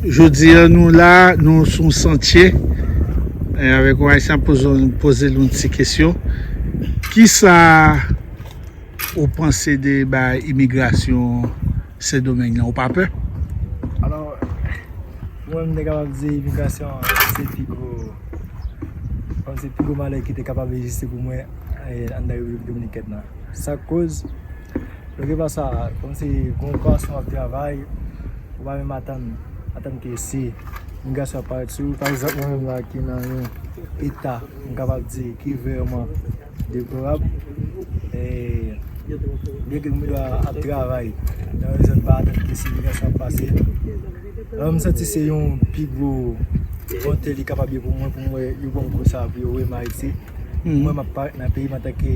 Jodi an nou la, nou sou yon santye E avèk yon ayisyen poze loun ti kesyon Kisa ou panse de bay imigrasyon sendomeng nan ou pa pè? Alò, mwen mwen dekabab di imigrasyon se pi gwo Panse pi gwo malè ki te kapab egziste pou mwen Andan repiblik dominikèn nan Sa koz Yo gen pa sa kòm se gon gason wap travay ou pa menm atann atann ke se yon gason ap parèt sou ou pa egzanp mwen menm la ki nan yon eta m kapab di ki vreman deplorab e byen ke m gen dwa ap travay nan yon zòn m pa atann ke se yon gason ap pase alò m santi se yon pi gwo onte li kapab ye pou mwen pou m wè yo banm kou sa pou yo wè m ayiti pou mwen m ap parèt nan peyi m antanke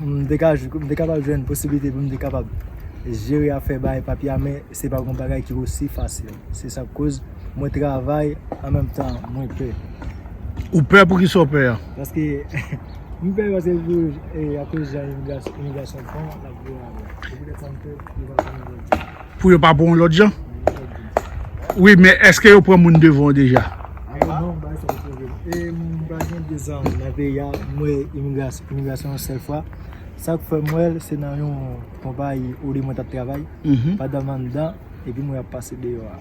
M te ka jwenn, m te kapab jwenn posibilite pou m te kapab jere afè bay papye a men se pa yon bagay ki osi fasil. Se sa k koz mwen travay an menm tan mwen pè. Ou pè pou kisa w pè a? Paske m pè paske akoz jan imigrasyon fon l ap vini avè l. Se poutèt sa m pè pou l pa fè m vòlè. Pou yo pa pran w lòt jan? Wi men eske yo pran moun devan w deja? Alo non, bay sa pou vin. E mwen pa gen 2 zan nan peyi a, m wè imigrasyon yon sèl fwa. Sa k fè m wè l se nan yon konpayi olye mwen t ap travay, pandan m anndan epi m wè y ap pase deyò a.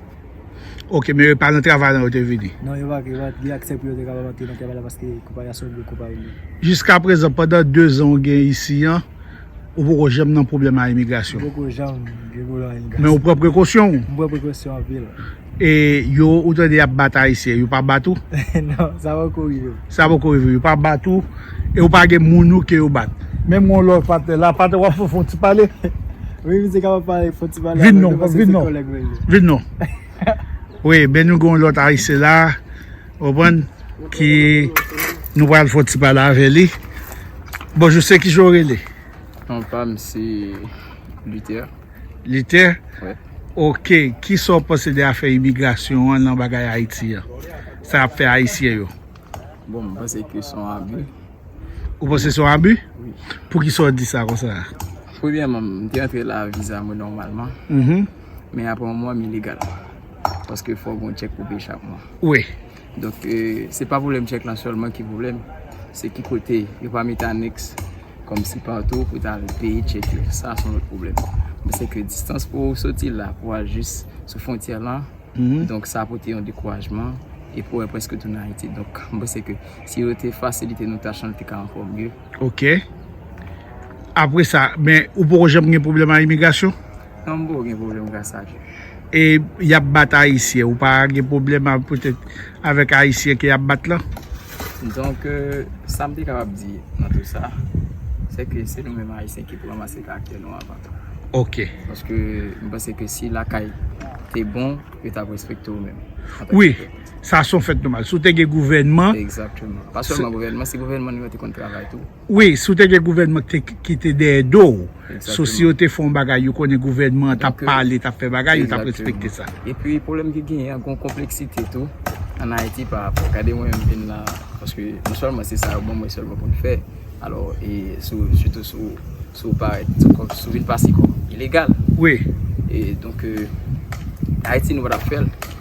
Ok, men yo pa nan travay lan yo te vini? Non, yo pa gen aksè pou yo te kapab antre nan travay la paske konpayi a se yon gwo konpayi. Jiskaprezan pandan 2 zan ou gen isi an, Ou poko janm nan pwoblèm a imigrasyon? Mwen poko janm gen pwoblèm a imigrasyon. Men ou pran prekosyon? Mwen pran prekosyon anpil. E yo ou tande y ap bat Ayisyen, yo pa bat ou? Non, sa poko rive m. Sa poko rive w, yo pa bat ou? E ou pa gen moun ou ke yo bat? Menm gen yon lòt patnè la, patnè w ap fè yon ti pale? Wi, misye kapab pale, fè yon ti pale avèk nou paske se kòlèg mwen l ye. Vin non, vin non. Wi, men nou gen yon lòt Ayisyen la. Ou konprann? Ki nou pral fè yon ti pale avè li. Bonjou, se ki jan w rele? Non pa m se Luther. Luther? Wi. Ok, ki sa w panse de afè imigrasyon an nan bagay Ayiti an? Sa y ap fè Ayisyen yo? Bon, m panse ke se yon abi. Ou panse se yon abi? Wi. Pou ki sa w di sa konsa? Premyèman, m te antre la viza mwen nòmalman. Men apre yon mwa, m ilegal. Paske fòk gon chèk pou peye chak mwa. Wi. Donk se pa pwoblèm chèk lan sèlman ki pwoblèm. Se ki kote yo pa mete anèks kòm si patou pou ta al peye chèk yo. Sa son lòt pwoblèm. Men se ke distans pou ou soti la pou al jis sou fwontyè lan. Donk sa pote yon dekourajman. E pou wè prèske tounen Ayiti. Donk mwen panse ke si yo te fasilite nou tach lan li te ka ankò mye. Ok. Apre sa, men ou poko janm gen pwoblèm a imigrasyon? Sambo gen problem gras a Dye. E yap bat ayisyen ou pa gen pwoblèm poutèt avèk ayisyen ke yap bat lan? Donk sam te kapab di nan tout sa se ke se nou menm ayisyen ki pou ranmase karaktè nou avan tou. Ok. Paske m panse ke si lakay te bon yo tap respekte w menm. Wi, sa son fèt nòmal. Si w te gen gouvènman. Egzakteman. Pa sèlman gouvènman, si gouvènman nou yo te konn travay tou. Wi si w te gen gouvènman ki te dèyè do w, sou si yo te fè yon bagay yo konnen gouvènman an t ap pale, t ap fè bagay, yo t ap respekte sa. Epi pwoblèm ki genyen an, gen yon konpleksite tou ann Ayiti pa rapò, gade mwen menm m vin la paske non sèlman se sa yo ban mwen sèlman pou m fè alò e sou sitou sou sou parèt sou vin pase kòm ilegal e donk Ayiti nou pa t ap fè l.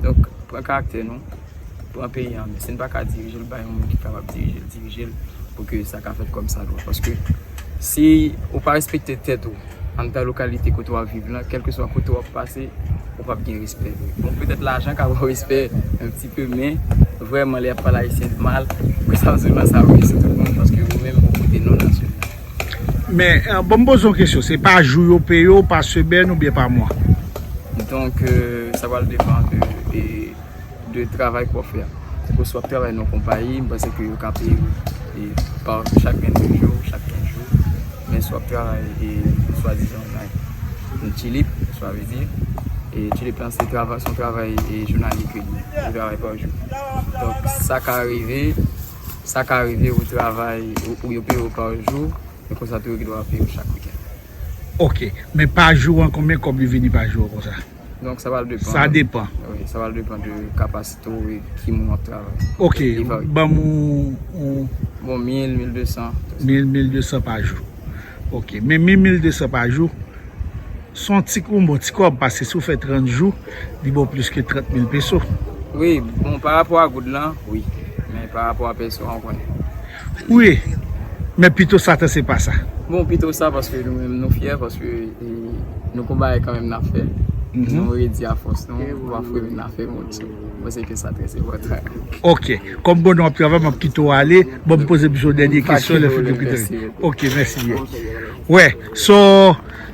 Donk, pran karaktè nou, pran peyi an men. Si n pa ka dirije l, bay yon moun ki kapab dirije l, dirije l pou ke sa ka fèt kòm sa dwa. Paske, si ou pa respekte tèt ou, anndan lokalite kote w ap viv lan, kèlkeswa kote w ap pase, ou pap gen respè vre. Bon, petèt lajan ka ba w respè yon ti pe, men, vrèman, lè y ap pale ayisyen mal, mwen sa m di w lan, sa ouvri je tout moun, paske ou menm ou pote non nasyonal. Men, bon m poze yon kesyon, se pa jou yo peye w, pa semèn oubyen pa mwa? Donk, sa pral depan de, de travay ke w ap fè a. Tankou si w ap travay nan yon konpayi, m panse ke yo ka peye w pa chak 22 jou, chak 15 jou. Men si w ap travay e swadizan nan Chilip, sa vle di, e Chilip lan se travay, se yon travay e jounalye ke li ye. Travay pa jou. Donk, sa ka rive. Sa ka rive ou travay ou yo peye ou pa jou, men konsa tou yo gen dwa peye ou chak wikèn. Ok, men pa jou an konbyen kòb li vini pa jou konsa? Donk sa pral depan. Sa depan. Wi, sa pral depan de kapasite ou e ki moun wap travay. Ok, banm yon. Bon 1000, 1200. 1000, 1200 pa jou. Ok, men 1000, 1200 pa jou. Son ti koum bon ti kob pase sou fè 30 jou li bon plis ke 30 mil peso. Wi bon pa rapò a goud lan wi men pa rapò a peso an konnen. Wi men pito sa tan se pa sa. Bon pito sa paske nou menm nou fyè paske nou gon bagay kanmenm nap fè nou redi a fòs nou pa fwe men na fè moun sou nou mwen se ke sa trè se pò tan. Ok kòm bon nou ap travay map kite w ale bon poze m sou dènye kesyon lè fini. Ok mèsi byen wè so.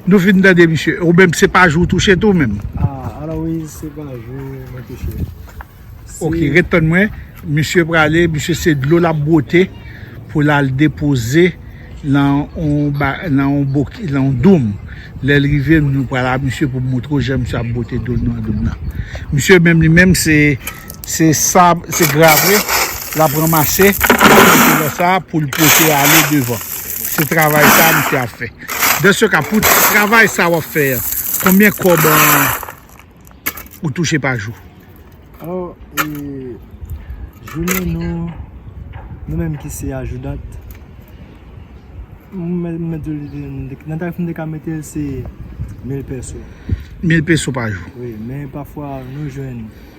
Nou fin tande misye. Ou menm se pa jou touche tou menm. Ah Aloyse se pa jou mwen touche. Ok ret tann mwen. Misye prale misye se dlo lap bwote pou lal depoze nan yon doum. Lèl rive nou pral a misye pou moutre ou jan misye ap bwote dlo nan doum nan. Misye menm li menm se se sab se grave lap ranmase pou l pote ale devan. Se travay sa misye ap fè. Dans ce cas pou travay sa wap fè an konbyen kòb ou touche pa jou? Alò e jounen nou nou menm ki se ajoudant m mèt di w nan tarif m te ka mete l se 1000 pèso. 1000 pèso pa jou. Wi men pafwa nou jwenn.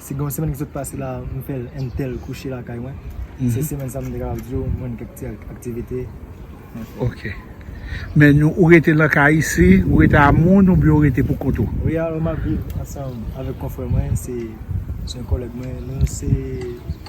Si gen yon semèn ki sot pase la a m fè l entel kouche lakay mwen, se semèn sa a m te kapab di w m jwenn kèk ti aktivite mwen fè. Ok. Men nou, ou rete nan kay isi, ou rete a moun oubyen ou rete pou kont ou? Wi alò m ap viv ansanm avèk konfrè mwen, se yon kòlèg mwen, nou se.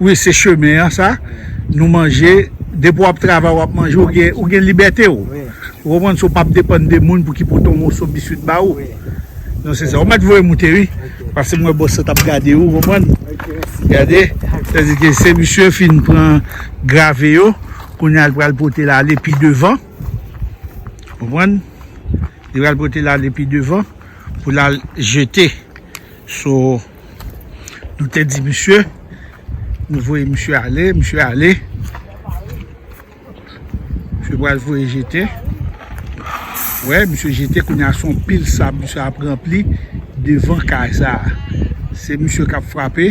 Wi se chemen an sa Nou manje Depi wap travay wap manje Ou gen libète ou Ou konprann sa ou pap depann de moun pou ki pote yon moso biswit ba ou Non se sa Ou mèt voye moute wi Pase m wè bòs la tap gade ou konprann Gade Sa di ke se misye fin pran grave yo Kounya l pral pote l ale pi devan Konprann Li pral pote l ale pi devan Pou l al jete Sou Nou te di misye, nou voye misye ale, misye ale. Misye pral voye jete. Wè, misye jete koun ya son pil sab misye ap rempli devan kay sa. Se misye kap frape,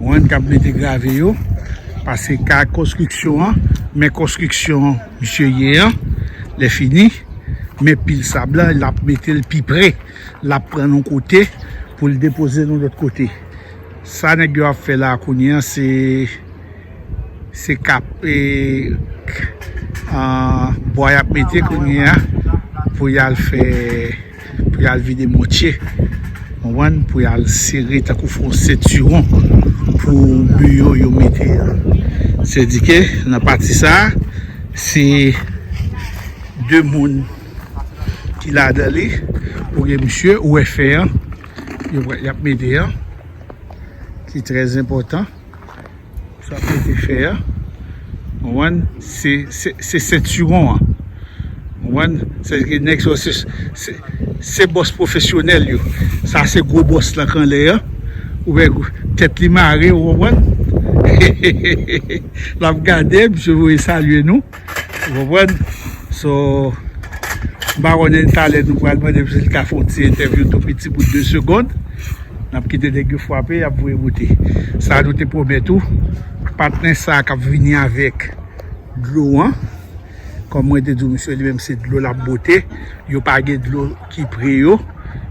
wèn kap mete grave yo. Pase kay konstriksyon an, men konstriksyon misye ye an. Le fini, men pil sab la, lap mete l pi pre. l ap pran nou kote pou l depoze nou lòt kote. Sa nèg yo ap fè la kounye an se se kap e bwa y ap mete kounye an pou y al fè pou y al vide mòtye ou konprann pou y al sere tankou fè yon sentiwon pou mi yo yo mete an. Sèdike nan pati sa se 2 moun. ki ladan li ou gen misye ou wè fè an y ap mete an ki trè zenpòtan y ap mete fè an ou wè se sentiwon an ou wè se di ki nèg sa yo se bòs pwofesyonèl yo sa se gwo bòs lan k anlè an ou wè tèt li mare ou wè he he he l ap gade misye voye salye nou Ou konprann? So, m pa konnen talè nou pral mande m si l ka fè yon ti entèvyou tou piti pou 2 segond. N ap kite nèg yo frape, y ap voye bote. Sa nou te pwomèt ou, patnè sa a k ap vini avèk dlo an, kòm mwen te di w misye li menm se dlo l ap bote, yo pa gen dlo ki pre yo,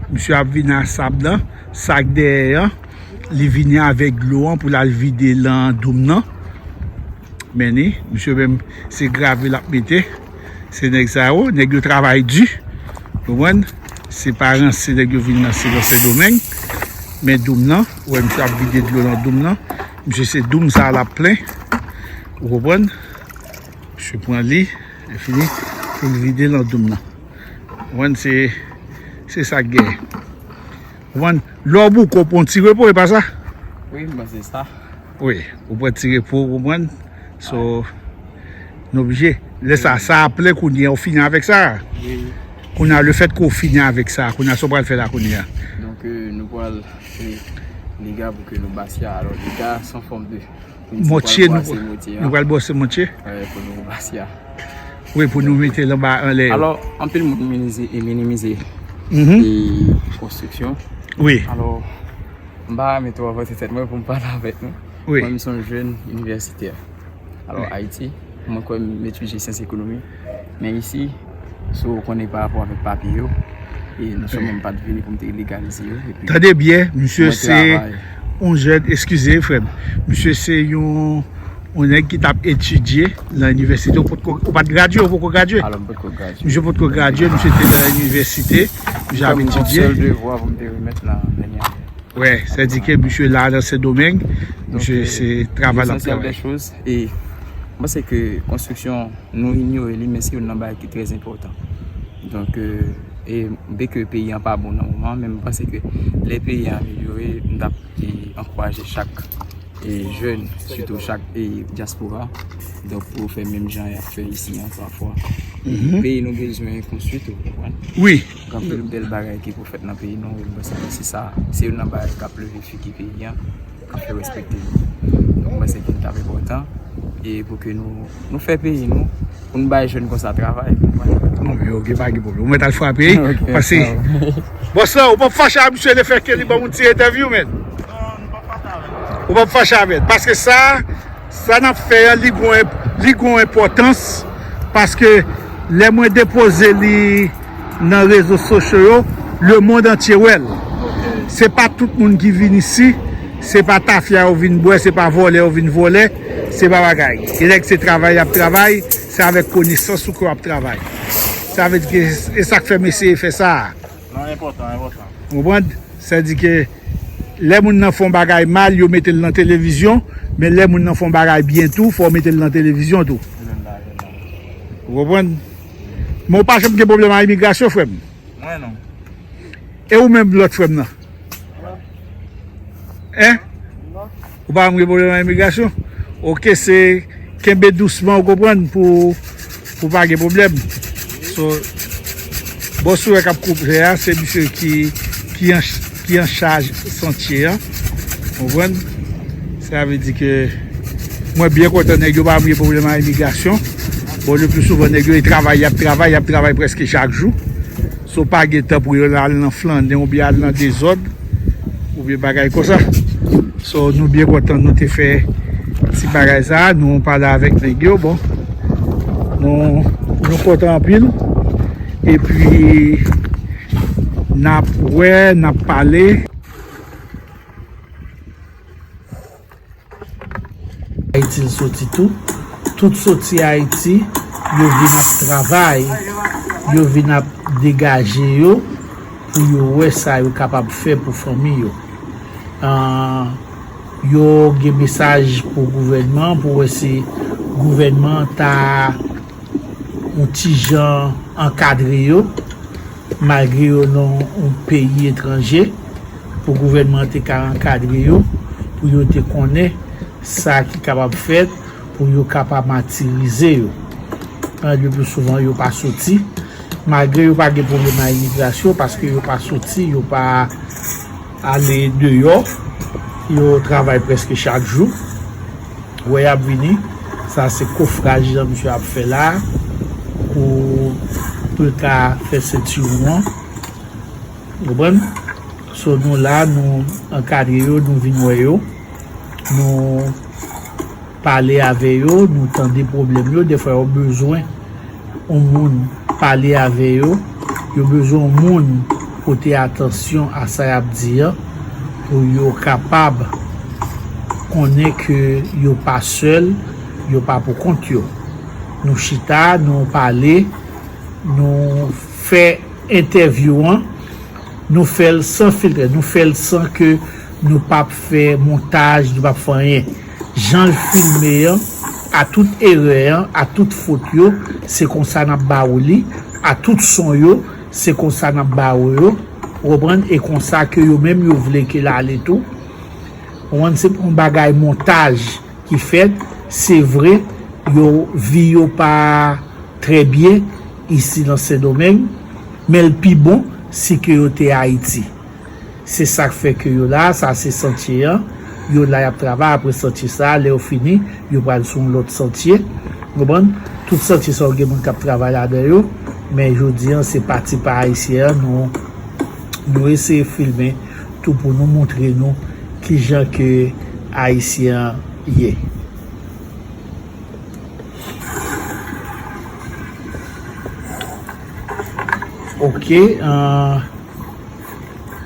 misye ap vini a sab lan, sa k dèyè an, li vini avèk dlo an pou l al vide lan doum nan. Men ni, misye menm se gravy lap mete, se nèg sa yo, nèg yo travay di, konprann, se pa ranse nèg yo vin ranse nan sendomeng, men doum nan, ou wè misye ap vide dlo nan doum nan, misye se doum sa lap plen, ou konprann, misye pran li, e fini, pou l vide nan doum nan, konprann, se, se sak gen, konprann, lè w bouke w pran w ti repo, e pa sa? Wi, m panse se sa. Wi, ou pran ti repo ou konprann, so nou oblije. Lè sa, sa a plen kounye a ou fini avèk sa. Kounye a lefèt ke ou fini avèk sa, kounye a sa ou pral fè la kounye a? Donk nou pral fè dega pou ke nou base a, alò dega a son fòm de Mòtye, nou pral bwase mòtye a. Nou pral bwase mòtye? Wi, pou nou base a. Wi, pou nou mete l anba anlè yo. Alò, anpil moun minimize konstriksyon. Wi. Alò. M pa renmen twò vante tèt mwen pou m pale avèk nou. Mwen m se yon jèn inivèsitè. Alò Ayiti, mwen kwè m etidye syans ekonomi. Men isi, sou ou konnen pa rapò avèk papye yo, e nou souman m pa t vini pou m te ilegalize yo. Tande byen, misye se yon jèn, eskize frè m, misye se yon Yon nèg ki tap etidye nan inivèsite, ou potko, ou pat gradye, ou poko gradye? Alò m potko gradye. Misye potko gradye, misye te nan inivèsite, misye ap etidye. Mwen te gen yon sèl devwa pou m te remèt nan dènye ane. Wè, sè di ke misye la nan Sendomeng, misye se travay lap travay. Lesansyèl dè choz, e, m panse ke konstriksyon nou inyore li, men se youn nan bagay ki trè enpòtan. Donk, e, byen ke peyi an pa bon nan moman, men m panse ke lè peyi an amelyore, m tap ankouraje chak. Jèn, sitou chak dyaspora, donk pou yo fè menm jan y ap fè isi an pafwa. Peyi nou bezwen konstwi tou, ou konprann? Wi. Gen anpil bèl bagay ki pou fèt nan peyi nou, e m panse ke se sa, se youn nan bagay k ap leve figi peyi an, k ap fè respekte li. Donk m panse ke li t ap enpòtan e pou ke nou. Nou fè peyi nou pou nou bay jèn konsa travay. Bon men ok pa gen pwoblèm. Ou mèt al frape wi. Ok. Pase. Bòs la ou pap fache ak misye le fè ke li ban ou yon ti entèvyou men? Non, m pap fache avè l. Ou pap fache avè l. Paske sa, sa n ap fè an li gon, li gon enpòtans paske lè mwen depoze li. nan rezo sosyo yo le mond antye wèl se pa tout moun ki vin isi se pa tafya yo vin bwè se pa vòlè yo vin vòlè se pa bagay e nèg se travay yap travay se avèk konesans ou ke wap travay sa vle di ke e sak fèm eseye fè sa a ou konprann sa di ke lè moun nan fon bagay mal yo metel nan televizyon men lè moun nan fon bagay byen tou fòw metel nan televizyon tou ou konprann. Men ou pa janm gen pwoblèm a imigrasyon frè m? Mwen non. E ou menm lòt frè m nan? Non. Hein? Non. Ou pa janm gen pwoblèm a imigrasyon? Ok se kenbe dousman ou konprann pou ou pa gen pwoblèm. So bon sourè k ap koupe a se misye ki an. ki an chaj santye an konprann sa vle di ke mwen byen kontan nèg yo pa vle problèm a imigrasyon bon le plus souvent nèg yo e travay yap travay yap travay preske chak jou so pa gen tan pou yo al nan flannè ou byen al nan dezòd ou byen bagay konsa so nou byen kontan nou te fè ti bagay sa nou pale avèk nèg yo bon nou kontan anpil epi Nap wè nap pale. Ayiti l soti tou. Tout soti ayiti yo vin ap travay. Yo vin ap degaje yo pou yo wè sa yo kapab fè pou fanmi yo. Yo gen mesaj pou gouvènman pou wè si gouvènman ta. yon ti jan ankadre yo, malgre yo nan yon peyi etranje, pou gouvènman te ka ankadre yo, pou yo te konnen sa ki kapab fèt, pou yo ka pa matirize yo. An, le plus souvan, yo pa soti, malgre yo pa gen pwoblèm a imigrasyon, paske yo pa soti, yo pa... Ale deyò, yo travay prèske chak jou. Wè y ap vini. Sa se kofraj jan misye ap fè la a pou pou l ka fè sentiwon an. Ou konprann? So nou la, nou ankadre yo, nou vin wè yo. Nou. Pale ave yo, nou tande pwoblèm yo, defwa yo bezwen yon moun pale ave yo, yo bezwen yon moun pote atansyon a sa yap di an, pou yo kapab konnen ke yo pa sèl, yo pa pou kont yo. Nou chita, nou pale, nou fè entèvyou an, nou fèl san filtre, nou fèl san ke nou pap fè montaj, nou pap fè anyen. Janl filme an a tout erè an a tout fot yo se konsa nap ba ou li a tout son yo se konsa nap ba ou yo ou konprann e konsa ke yo menm yo vle ke l ale tou ou konprann se pa yon bagay montaj ki fèt se vre yo vi yo pa trè byen isi nan sendomeng men l pi bon si ke yo te ayiti. Se sak fè ke yo la, sa se santye an, yo la yap travay apre santye sa, lè yo fini yo pral sou yon lòt santye, ou konprann, tout santye sa yo gen moun kap travay ladan yo, men jodi an se pati pa ayisyen an nou nou eseye filme tou pou nou moutre nou kijan ke ayisyen an ye. Ok.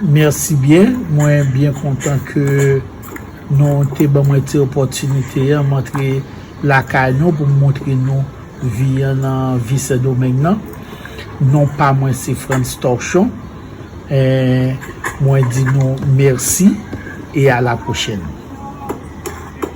Merci byen, mwen byen kontan ke nou te ban mwen ti opòtinite an m antre lakay nou pou m montre nou vi an nan vi Sendomeng nan. Non pa mwen se Frantz Torchon. Mwen di nou mèsi e a la pwochèn.